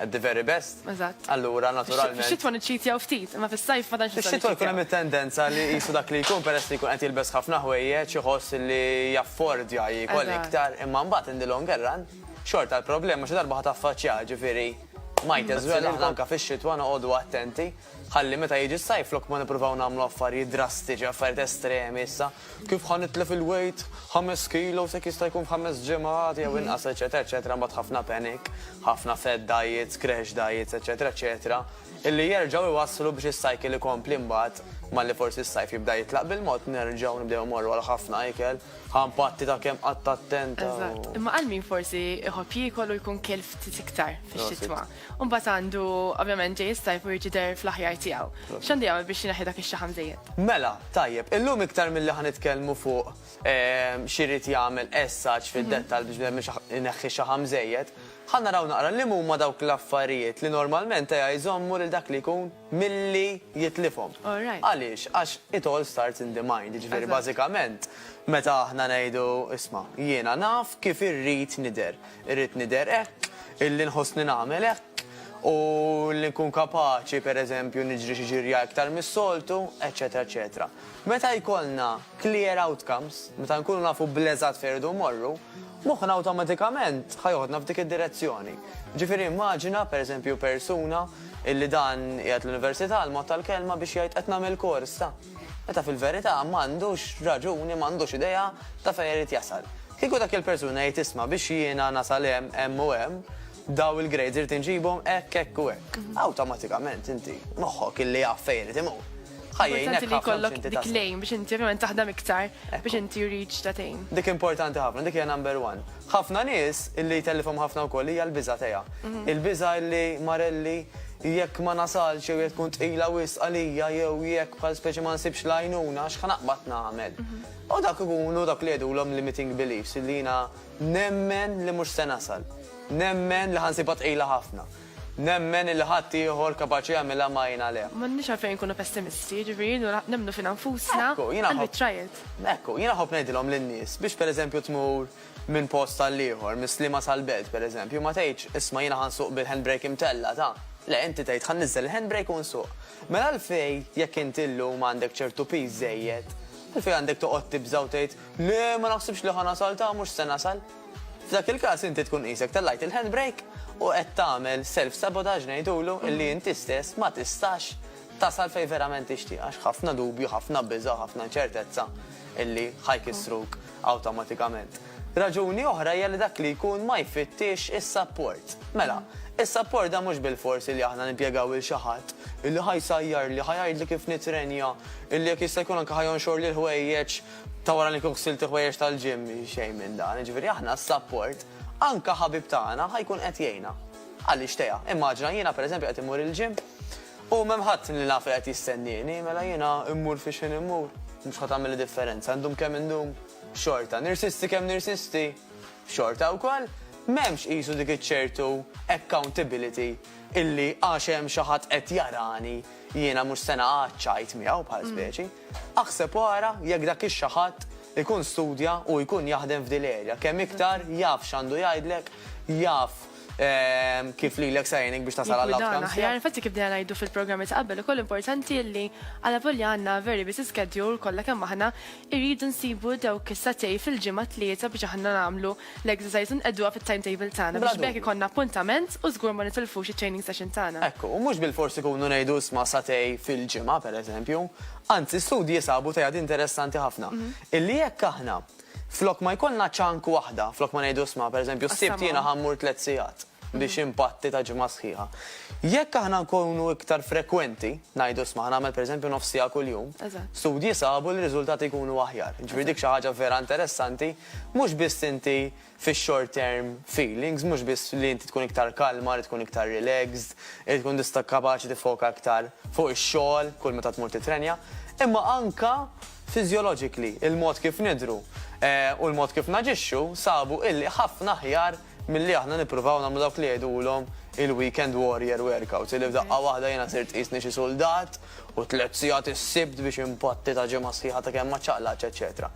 at the very best. Eżatt. Allura naturalment. Fix-xitwa niċċitjaw ftit, imma fis-sajf ma tantx nista' Fix-xitwa jkun hemm it-tendenza li qisu dak li jkun peress li jkun qed jilbes ħafna ħwejjeġ iħoss li jaffordja jiekol iktar, imma mbagħad in the longer run xorta l-problema xi darba ħa taffaċċjaha, ġifieri might as well aħna anke fix-xitwa noqogħdu attenti. Ħalli meta jiġi s-sajf flok ma nippruvaw nagħmlu affarijiet drastiċi, affarijiet estremi issa, kif ħa nitlef il-weight ħames kilos jekk jista' jkun f'ħames ġimgħat jew inqas eċċetera eċċetera mbagħad ħafna panic, ħafna fad diets, crash diets eċċetera eċċetera illi jerġgħu jwasslu biex is-cycle ikompli mbagħad malli forsi s-sajf jibda jitlaq bil-mod nerġgħu nibdew immorru għal ħafna ikel, ħa npatti ta' kemm qatt attenta u. Eżatt. Imma għal min forsi jħobb jiekol u jkun kiel ftit iktar fix-xitwa. U mbagħad għandu, ovvjament, ġej is-sajf u jrid jidher fl-aħjar tiegħu. X'għandu jagħmel biex jneħħi dak ix-xaħam żejjed? Mela, tajjeb, illum iktar milli ħa nitkellmu fuq x'irid jagħmel as such fid-dettall biex bnedmin ineħħi xaħam żejjed, ħa naraw naqra li m'huma dawk l-affarijiet li normalment eja jżommu lil dak li jkun milli jitlifhom. Għaliex? Għax it all starts in the mind, jiġifieri bażikament meta aħna ngħidu isma' jiena naf kif irrid nidher, Irrid nidher hekk, illi nħossni nagħmel hekk, u li nkun kapaċi, per eżempju, niġri xi ġirja iktar mis-soltu, eċċetera eċċetera. Meta jkollna clear outcomes, meta nkunu nafu bl-eżatt fejn irridu mmorru, moħħna awtomatikament ħa joħodna f'dik id-direzzjoni. Ġifieri immaġina, per eżempju, persuna illi dan qiegħed l-università, l-mod tal-kelma biex jgħid qed nagħmel kors ta'. Meta fil-verità ma għandux raġuni, ma għandux idea ta' fejn irid jasal. Kieku dak il-persuna jgħid isma' biex jiena nasal hemm, hemm u hemm, dawn il-grades irid inġibhom hekk, hekk u hekk. Awtomatikament inti, moħħok illi jaf fejn irid imur, ħa jgħinek ħafna biex inti tasal. Importanti li jkollok dik l-aim biex inti ovvjament taħdem iktar biex inti reach that aim. Dik importanti ħafna, dik hija number one. Ħafna nies illi jtellifhom ħafna wkoll hija l-biża' teha. Il-biża' illi marelli jekk ma nasalx jew jekk tkun tqila wisq għalija jew jekk bħal speċi ma nsibx l-għajnuna x'ħa naqbad nagħmel. U dak ikunu dak li jgħidulhom limiting beliefs illi jiena nemmen li mhux se nasal. Nemmen li ħa nsibha tqila ħafna. Nemmen illi ħadd ieħor kapaċi jagħmilha ma għin għalih. M'għandniex għalfejn inkunu pessimisti, jiġifieri nura nemmnu fina nfusna and we try it. Ekku, jiena nħobb ngħidilhom lin-nies biex pereżempju tmur minn post għal ieħor, mis-Sliema sal-Belt pereżempju, ma tgħidx, isma' jiena ħa nsuq bil-handbrake imtella', ta. Le, inti tgħid ħa nniżżel il-handbrake u nsuq. Mela għalfejn, jekk inti llum għandek ċertu piż żejjed, għalfejn għandek toqgħod tibża' u tgħid, le, ma naħsibx li ħa nasal, ta, mhux se nasal. F'dak il-każ inti tkun qisek tellajt il-handbrake u qed tagħmel self-sabotage ngħidulu illi inti stess ma tistax tasal fejn verament tixtieq għax ħafna dubju, ħafna biża' u ħafna inċertezza illi ħa jkissruk awtomatikament. Raġuni oħra hija li dak li jkun ma jfittix is-sapport. Mela, is-sapport dan mhux bilfors illi aħna nimpjegaw lil xi ħadd illi ħa jsajjarli, ħa jgħidli kif nitrenja, illi jekk jista' jkun anke ħa jonxorli l-ħwejjeġ, Ta' wara li nkun ħsilt il-ħwejjeġ tal-gym xejn minn dan, jiġifieri aħna s-sapport, anke ħabib tagħna ħa jkun qed jgħinna. Għaliex Tea? Immaġina jiena pereżempju qed immur il-gym u m'hemm ħadd li naf li qed jistennieni, mela jiena mmur fi x'ħin immur, mhux ħa tagħmilli differenza, ndum kemm indum, xorta. Nirsisti kemm nirsisti, xorta wkoll. M'hemmx qisu dik iċ-ċertu accountability illi għax hemm xi ħadd qed jarani jiena mhux se naqgħad ċajt miegħu bħal speċi. Aħseb u ara jekk dak ix-xi ħadd ikun studja u jkun jaħdem f'din l-erja. Kemm iktar jaf x'għandu jgħidlek, jaf kif lilek se jgħinek biex tasal għall-outcomes tiegħek. Jiggwidana aħjar, infatti kif bdejna ngħidu fil-programmi ta' qabel ukoll importanti li alavolja għandna a very busy schedule kollha kemm aħna, irridu nsibu dawk is-sagħtej fil-ġimgħa tlieta biex aħna nagħmlu L-exercise inqegħduha fit-timetable tagħna biex b'hekk ikollna appuntament u żgur ma nitilfux it-training session tagħna. Hekk hu, mhux bilfors ikunu ngħidu isma' satej fil-ġimgħa, pereżempju. Anzi, studji sabu teiad interessanti ħafna, illi jekk aħna flok ma jkollna chunk waħda, flok ma ngħidu isma' pereżempju s-Sibt jiena ħa mmur tliet sigħat, biex impatti ta' ġimgħa sħiħa. Jekk aħna nkunu iktar frekwenti, ngħidu sma' nagħmel pereżempju nofs siegħa kuljum, studji sabu li r-riżultati jkunu aħjar. Ġifieri dik xi ħaġa vera interessanti, mhux biss inti fix-short term feelings, mhux biss li inti tkun iktar kalma, li tkun iktar relaxed, li tkun tista' kapaċi tiffoka iktar fuq ix-xogħol kull meta tmur tittrenja, imma anke physiologically, il-mod kif nidhru u l-mod kif naġixxu sabu illi ħafna aħjar Milli aħna nippruvaw nagħmlu dawk li jgħidulhom il-weekend warrior workouts, illi f'daqqa waħda jiena sirt qisni xi suldat u tliet sigħat is-Sibt biex inpatti ta' ġimgħa sħiħa ta' kemm ma ċċaqlaqtx eċċetera.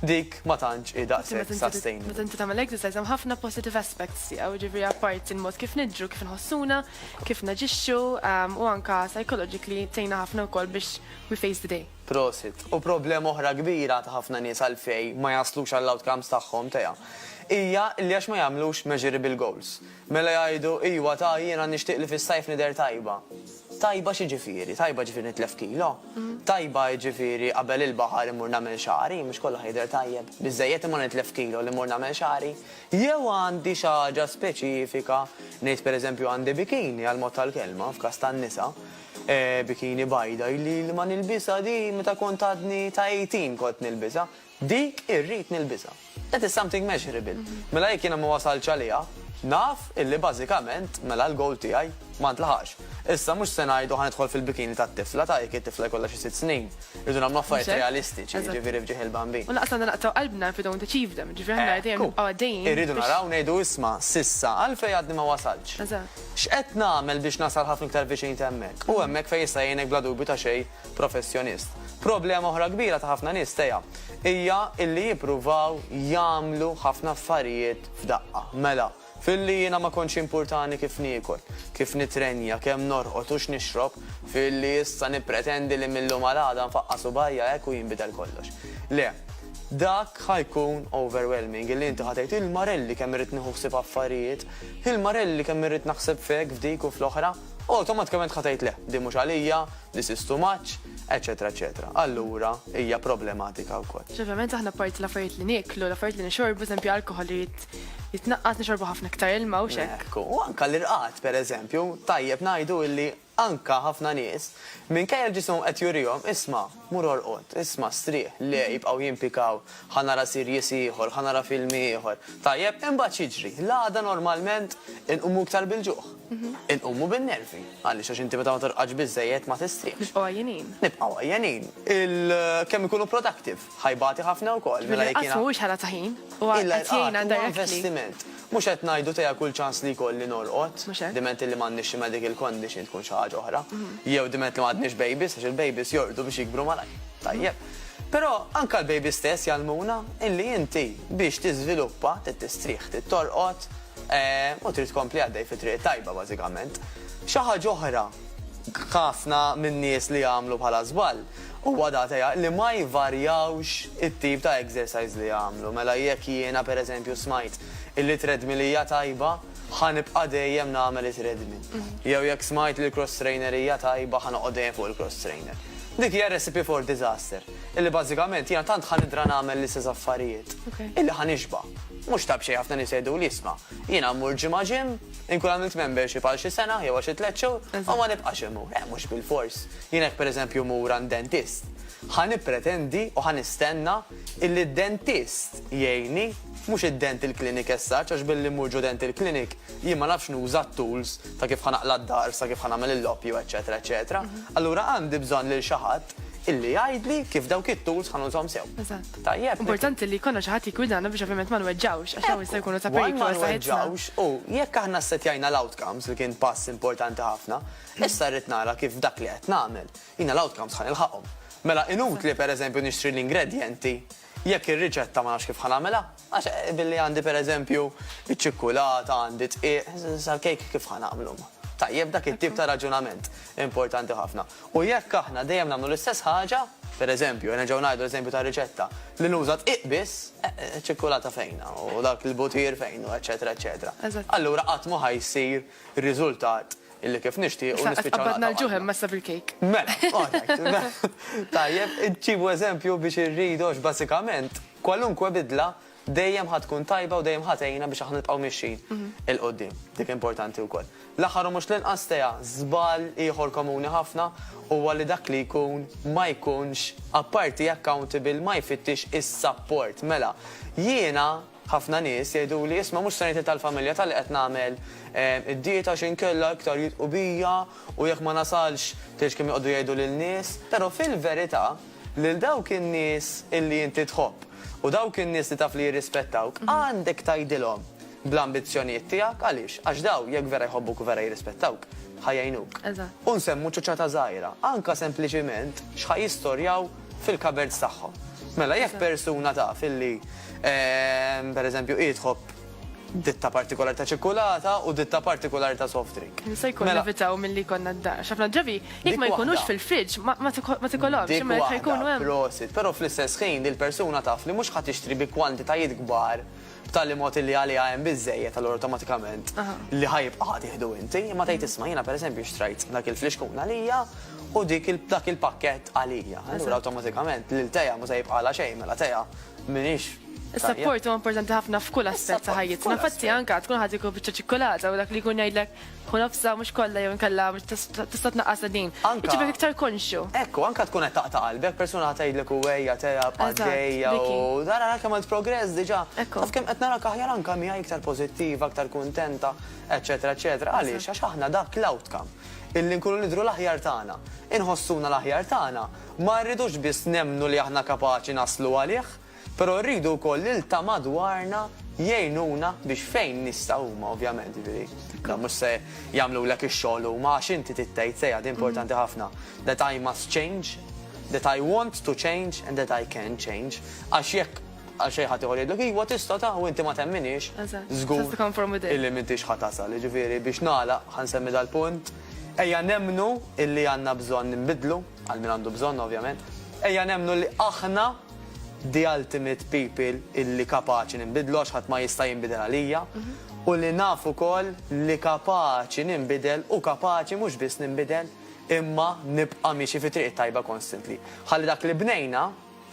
Dik ma tantx hi daqshekk sustainable. Meta inti tagħmel exercise hemm ħafna positive aspects tiegħu, jiġifieri apparti l-mod kif nidhru, kif inħossuna, kif naġixxu u anke psychologically tgħinna ħafna wkoll biex we face the day. Prosit. U problema oħra kbira ta' ħafna nies għalfej ma jaslux għall-outcomes tagħhom, tea, hija li għax ma jagħmlux measurable goals. Mela jgħidu, iwa ta, jiena nixtieq li fis-sajf nidher tajba. Tajba x'jiġifieri? Tajba jiġifieri nitlef kilo? Tajba jiġifieri qabel il-baħar immur nagħmel xagħri? Mhux kollox ħajidher tajjeb. Biżżejjed imma nitlef kilo li mmur nagħmel xagħri? Jew għandi xi ħaġa speċifika, ngħid pereżempju għandi bikini għall-mod tal-kelma, f'każ tan-nisa, Bikini bajda ili li ma nilbisha di meta kont għadni ta' 18 kont nilbisha. Dik irrid nilbisha. That is something measurable. Mela jekk jiena ma wasaltx għaliha, naf illi bażikament mela l-goal tiegħi ma ntlaħaqx. Issa mhux se ngħidu ħa nidħol fil-bikini tat-tifla ta' jekk it-tifla jkollha xi sitt snin. Irridu nagħmlu affarijiet realistiċi, jiġifieri f'ġieħ il-bambin. U lanqas għandna naqtgħu qalbna if we don't achieve them. Jiġifieri aħna dejjem nibqgħu għaddejjin biex. Irridu naraw ngħidu isma' s'issa għalfejn għadni ma wasaltx. X'qed nagħmel biex nasal ħafna iktar viċin t'hemmhekk? Hu hemmhekk fejn jista' jgħinek bla dubju ta' xejn professjonist. Problema oħra kbira ta' ħafna nies, Tea, hija illi jippruvaw jagħmlu ħafna affarijiet f'daqqa. Mela, f'illi jiena ma kontx jimpurtani kif niekol, kif nittrenja, kemm norqod u x'nixrob, f'illi issa nippretendi li mil-lum għal għada nfaqqa' subgħajja hekk u jinbidel kollox. Le, dak ħa jkun overwhelming, illi inti ħa tgħid, il-marelli kemm irrid nieħu ħsieb affarijiet! Hi l-Marelli kemm irrid naħseb f'hekk, f'dik u fl-oħra. Awtomatikament ħa tgħid le, din mhux għalija, this is too much, eċċetera eċċetera. Allura hija problematika wkoll. Ovvjament aħna apparti l-affarijiet li nieklu, l-affarijiet li nixorbu, eżempju alkoħol irid jitnaqqas, nixorbu ħafna iktar ilma u x'hekk. Ekku, u anke l-irqad pereżempju, tajjeb ngħidu illi Anke ħafna nies, minkejja li ġisimhom qed jurihom, isma', mur orqod, isma', strieħ, le, jibqgħu jimpikaw, ħa nara series ieħor, ħa nara film ieħor. Tajjeb, imbagħad x'jiġri? L-għada normalment inqumu iktar bil-ġuħ. Inqumu bin-nervi. Għaliex? Għax inti meta ma torqodx biżżejjed ma tistrieħx. Nibqgħu għajjenin. Nibqgħu għajjenin. Kemm ikunu productive? Ħa jbati ħafna wkoll, mela jekk jiena. Bil-inqas mhuwiex ħela ta' ħin, huwa qed jgħinna directly. Huwa investiment. Mhux qed ngħidu tejja kull ċans li jkolli norqod, diment li m'għandniex xi medical condition tkun xi ħaġa oħra, jew diment li m'għadniex babies għax il-babies jorqdu biex jikbru malajr. Tajjeb. Però anke l-babies stess jgħallmuna illi inti biex tiżviluppa trid tistrieħ, trid torqod, u trid tkompli għaddej fit-triq it-tajba bażikament. Xi ħaġa oħra, ħafna min-nies li jagħmlu bħala żball, Huwa da teha li ma jvarjawx it-tip ta' exercise li jagħmlu. Mela jekk jiena per eżempju smajt illi treadmill hija tajba, ħa nibqa' dejjem nagħmel it-treadmill. Jew jekk smajt li l-cross trainer hija tajba, ħa noqgħod dejjem fuq il-cross trainer. Dik hija recipe for disaster, illi bażikament jiena tant ħa nidra nagħmel l-istess affarijiet illi ħa nixba'. Mhux ta' b'xejn ħafna nies jgħiduli isma', jiena mmur ġimgħa gym, inkun għamilt membership għal xi sena jew għal xi tliet xhur u ma nibqax immur. Eh, mhux bilfors. Jien hekk pereżempju mmur għand dentist, ħa nippretendi u ħa nistenna illi d-dentist jgħinni, mhux id-dental clinic as such għax billi mmur ġo dental clinic jien ma nafx nuża t-tools ta' kif ħa naqla' d-dahar sa kif ħa nagħmel il-loppju eċċetera eċċetera. Allura għandi bżonn lil xi ħadd illi jgħidli kif dawk it-tools ħa nużhom sew. Eżatt. Tajjeb? Importanti li jkollna xi ħadd jiggwidana biex ovvjament ma nweġġgħux għax dawn jistgħu jkunu ta' periklu għal saħħitna. One ma nweġġgħux u jekk aħna ssettjajna l-outcomes li kien pass importanti ħafna, Issa rrid nara kif f'dak li qed nagħmel, jiena l-outcomes ħa nilħaqhom. Mela inutli pereżempju nixtri l-ingredjenti jekk ir-riċetta ma nafx kif ħa nagħmilha, għax billi għandi pereżempju iċ-ċikkulata, għandi d-dqiq, sal-kejk kif ħa nagħmlu? Tajjeb, dak it-tip ta' raġunament importanti ħafna. U jekk aħna dejjem nagħmlu l-istess ħaġa, pereżempju, nerġgħu ngħidu l-eżempju tar-riċetta, li nuża dqiq biss, ċ-ċikkulata fejn hu, u dak il-butir fejn hu, eċċetera, eċċetera. Allura qatt mhu ħa jsir riżultat li kif nixtiequ nispiċċaw naqtgħu qalbna. Issa qed tqabbadna l-ġuħ hemm messa bil-kejk. Mela, alright. Tajjeb, ġibu eżempju biex irridu għax bażikament kwalunkwe bidla dejjem ħa tkun tajba u dejjem ħa tgħinna biex aħna nibqgħu mixjin 'il quddiem. Dik importanti wkoll. L-aħħar u mhux l-inqas, Tea, żball ieħor komuni ħafna huwa li dak li jkun ma jkunx apparti accountable ma jfittix is-sapport. Mela, jiena, Ħafna nies jgħiduli, isma' mhux se ngħid li tal-familja ta' li qed nagħmel id-dieta għax inkella iktar jidhqu bija u jekk ma nasalx tgħidx kemm joqogħdu jgħidu lin-nies. Però fil-verità lil dawk in-nies illi inti tħobb u dawk in-nies li taf li jirrispettawk għandek tgħidilhom bl-ambizzjonijiet tiegħek. Għaliex? Għax dawn jekk vera jħobbuk u vera jirrispettawk ħa jgħinuk. U nsemmu ċoċata żgħira, anke sempliċiment x'ħa jistorjaw fil-cupboards tagħhom. Mela jekk persuna taf illi ehm, per eżempju idħob ditta partikolari ta' ċikkulata u ditta partikolari ta' soft drink. Se jkun mela- evitaw mill-li konna d-da. Xafna ġabi, jek ma jkunux fil-fridġ, ma tikolom, ximma jkunu għem. Prosit, pero fl-istess ħin il-persuna taf li mux ħat ixtri bi kwantitajiet gbar b'tali mod illi għaliha hemm biżżejjed allura awtomatikament li ħa jibqa' ħa tieħdu inti, imma tgħid isma' jiena pereżempju xtrajt dak il-flixkun għalija u dik dak il-pakkett għalija. Allura awtomatikament lil Tea mhux se jibqagħlha xejn mela Tea m'iniex Is-sapport huwa importanti ħafna f'kull aspett ta' ħajjitna. Infatti anke tkun ħa tieku biċċa ċikkulata u dak li jkun jgħidlek U nofsa mhux kollha jew inkella tista' tnaqqasha din. Anka. Jiġifieri iktar konxju. Ekku, anka tkun qed taqta' qalbek, persuna ħa tgħidlek u ejja tela' bqa' għaddejja u ara ara kemm għamilt progress diġà. Ekku. Taf kemm qed narak aħjar anka miegħi iktar pożittiva, iktar kuntenta, eċċetera eċċetera. Għaliex? Għax aħna dak l-outcome illi nkunu nidhru l-aħjar tagħna, inħossuna l-aħjar tagħna, ma rridux biss nemmnu li aħna kapaċi naslu għalih, Però rridu wkoll li l-ta' madwarna jgħinuna biex fejn nistgħu huma ovvjament, jiġifieri dawn mhux se jagħmlulek ix-xogħol huma għax inti trid tgħid sejħa din importanti ħafna, that I must change, that I want to change and that I can change għax jekk għal xejn ħadd ieħor jgħidlek iva tista' ta' u inti ma temminhiex, żgur illi m'intix ħa tasal. Jiġifieri biex nagħlaq ħa nsemmi dal-punt, ejja nemmnu illi għandna bżonn inbiddlu, għal min għandu bżonn ovvjament, ejja nemmnu li aħna, the ultimate people illi kapaċi ninbidlu għax ħadd ma jista' jinbidel għalija u li naf ukoll li kapaċi ninbidel u kapaċi mhux biss ninbidel imma nibqa' miexi fit-triq it-tajba constantly. Ħalli dak li bnejna,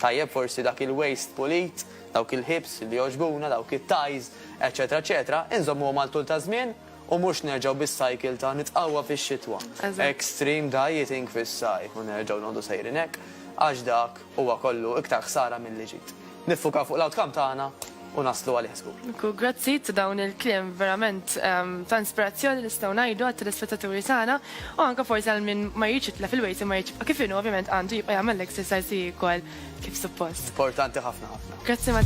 tajjeb forsi dak il-waste pulit, dawk il-ħiebs li jogħġbuna, dawk it-ties, eċċetera eċċetera, inżommuhom għal tul taż-żmien U mhux nerġgħu bis-cycle ta' nitqawwa fix-xitwa, extreme dieting fis-sajf u nerġgħu noqogħdu sejrin hekk, għax dak huwa kollu iktar ħsara milli ġid. Niffukaw fuq l-outcome tagħna u naslu għalih żgur. Nku grazzi ta' dawn il-kliem verament ta' inspirazzjoni nistgħu ngħidu għat-telespettaturi tagħna u anke forsi għal min ma jridx jitlef il-weight imma jrid jibqa' kif inhu ovvjament għandu jibqa' jagħmel l-exercise u jiekol kif suppost. Importanti ħafna ħafna. Grazzi ma'